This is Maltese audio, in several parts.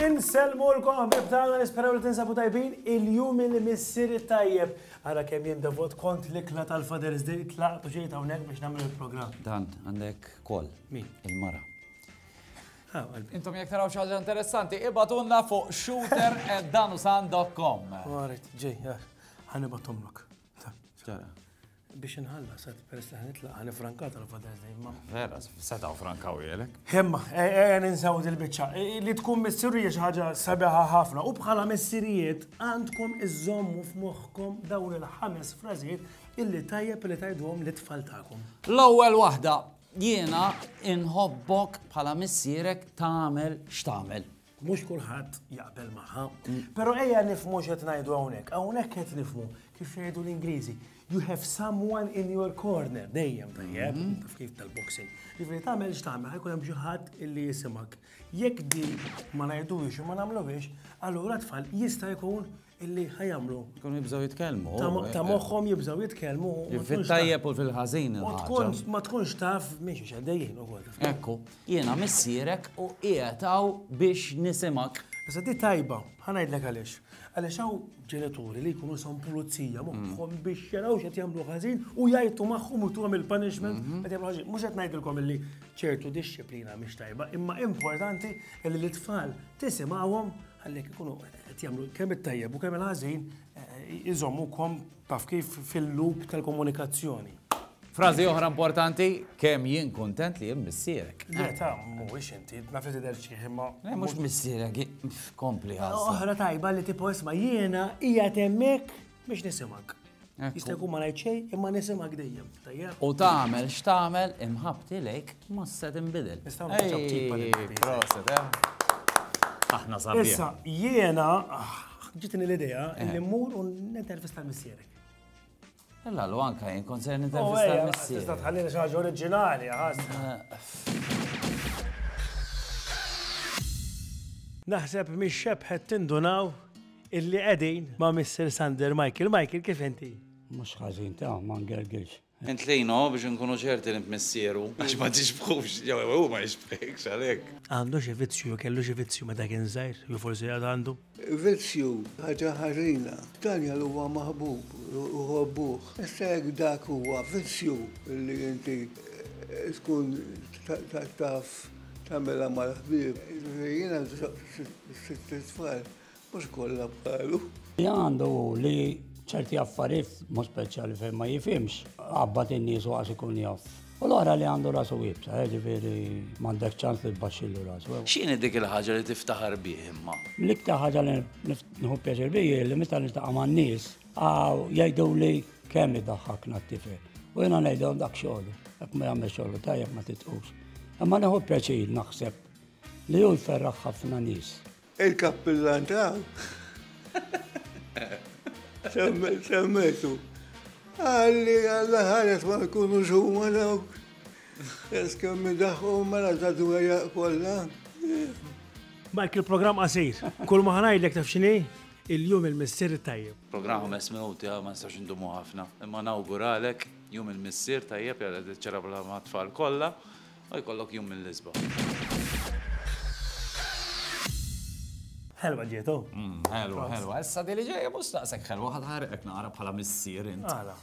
Inselmu l-kom, bibtana nisperaw li tinsabu tajbin il-jum il-missir tajjeb. Għara kem jien davot kont l-ikla tal-Father's Day tlaqtu ġejta unek biex namlu il-program. Dan, għandek kol. Mi? Il-mara. Intom jek taraw xaġa interessanti, ibatunna fuq shooter at danusan.com. Għarit, ġej, eh, ħanibatumlok. Biex nħalla, sa' peress li ħanitla, ħani frankat għal Father's Day, ma. Vera, setaw frankaw jelek. Hemma, e, e, e, ninsaw dil-bicċa. Li tkun missirija ħaġa sabiħa ħafna. U bħala missirijiet għandkom iżommu f'moħħkom dawn il-ħames frażijiet illi tajjeb li tajdwom li tfal tagħkom. L-ewwel waħda, Jiena inħobbok bħala missierek tagħmel x'tagħmel. Mhux kulħadd jaqbel magħha, però ejja nifhmu x'qed ngħidu hawnhekk. Hawnhekk qed nifhmu kif jgħidu l-Ingliżi, you have someone in your corner, dejjem tajjeb, taf kif tal-boxing. Jiġifieri tagħmel x'tagħmel, ħajkun hemm xi ħadd illi jisimak. Jekk din ma ngħidux u ma nagħmluhiex, allura tfal jista' jkun illi ħajamlu. Kun jibżaw jitkellmu. Ta' moħħom jibżaw jitkellmu. Fit-tajjeb u fil-ħażin. Ma tkunx taf miex xaddejjien u għol. Ekku, jiena missierek u qiegħtaw biex nisimak. Issa di tajba, ħanajdlek għaliex. Għaliex hawn ġenituri li jkunu son pulizija moħħom mm. biex jaraw x'qed jagħmlu ħażin u jgħajtu magħhom u tuhom il-punishment mm-hmm. qed jagħmlu ħażin. Mhux qed ngħidilkom li ċertu disċiplina mhix tajba, imma importanti li l-itfal tisimgħuhom Għallek ikunu qed jagħmlu kemm it-tajjeb u kemm il-ħażin iżommukom taf kif fil-loop tal-komunikazzjoni. Frażi oħra importanti, kemm jien kuntent li jien missierek. Le ta' mhuwiex inti, ma fi tidher xi imma. Le mhux missierek, kompli ħażin. Oħra tajba li tipo isma' jiena hija temmek Biex nisimak. Jista' jkun ma ngħid xejn imma nisimak dejjem. Tajjeb. U tagħmel x'tagħmel imħabti lejk ma se tinbidel. Nistgħu nagħmlu Proset, eh. Aħna sabiħ. Issa jiena ġitni l-idea eh. li mmur u nintervista l-missierek. Illa l anka jien kont se oh, nintervista l-missierek. Tista' tħallina xi ħaġa oriġinali, Naħseb mix xebħet tindunaw Illi qegħdin ma' Mister Sander Michael. Michael, kif inti? Mhux ħażin ta' ma ngergirx. Int lejnu biex inkunu ċerti li int missieru. Għax ma tixbħux, jew hu ma jixbħekx għalhekk. Għandu xi vizzju jew kellu xi vizzju meta kien żgħir, jew forsi għad għandu? Vizzju, ħaġa ħażina. Daniel huwa maħbub, iħobbuh. Issa jekk dak huwa vizzju li inti tkun taf tagħmilha mal-ħbieb. Jiena sitt tfal. Mhux kollha bħalu. Li għandu li ċerti affarijiet mhux speċjali fejn ma jifhimx, qabad in-nies waqas ikun jaf. U l-oħra li għandu rasu ibsa, eh, ġifieri m'għandek ċans li tbaxxilu rasu. X'inhi dik il-ħaġa li tiftaħar bih imma? L-iktar ħaġa li nħu pjaċir bih li meta niltaqa' man-nies jgħidu li kemm idaħħakna t-tifel. U jiena ngħidhom dak xogħol, jekk ma jagħmel xogħol tajjeb ma titqux. Imma neħu pjaċir naħseb li hu jferraħ ħafna nies. Il-kappillan ta' semmetu. Għalli għalla ħares ma jkunu xumma dawk. Eskemmi daħħu mela ta' dwejja kollha. Mike, il-programm qasir. Kull ma ħanajdlek taf xini? Il-jum il-missier tajjeb. Programm ħames minuti ma nistax indumu ħafna. Imma nawguralek jum il-missier tajjeb jara ċerabla ma' tfal kollha. U jkollok jum mill-isbaħ. Ħelwa ġiet, oh. Mm, ħelwa, ħelwa. Issa dili ġejja mhux naqsek ħelwa ħad ħarqek nara bħala missier int. Għala.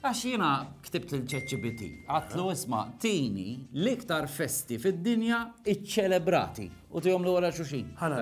Għax jiena ktibt il-ChatGPT, għatlu isma' tini l-iktar festi fid-dinja iċċelebrati u tihom l-għora xuxin. Ħana.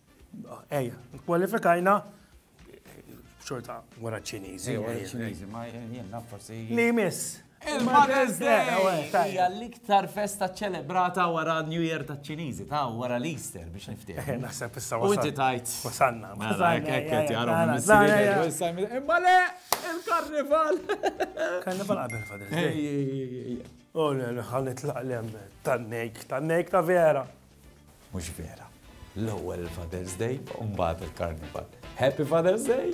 Ejja, kwalifikajna xorta wara ċinizi. ċinizi, ma jenna forsi. Li miss. Il-Mother's Day! Hija l-iktar festa ċelebrata wara New Year ta' ċinizi, ta' wara l-Easter biex niftieh. Eh, naħseb issa wasalna. Unti tajt. Wasalna. Mela, ekket jarom Imma le, il-karnival. Karnival qabel fadil. Oh, le, ħalli tlaqlem tan-nejk, tan-nejk ta' vera. Mhux vera. L-ewwel il-Father's Day u mbagħad il-Karnival. Happy Father's Day!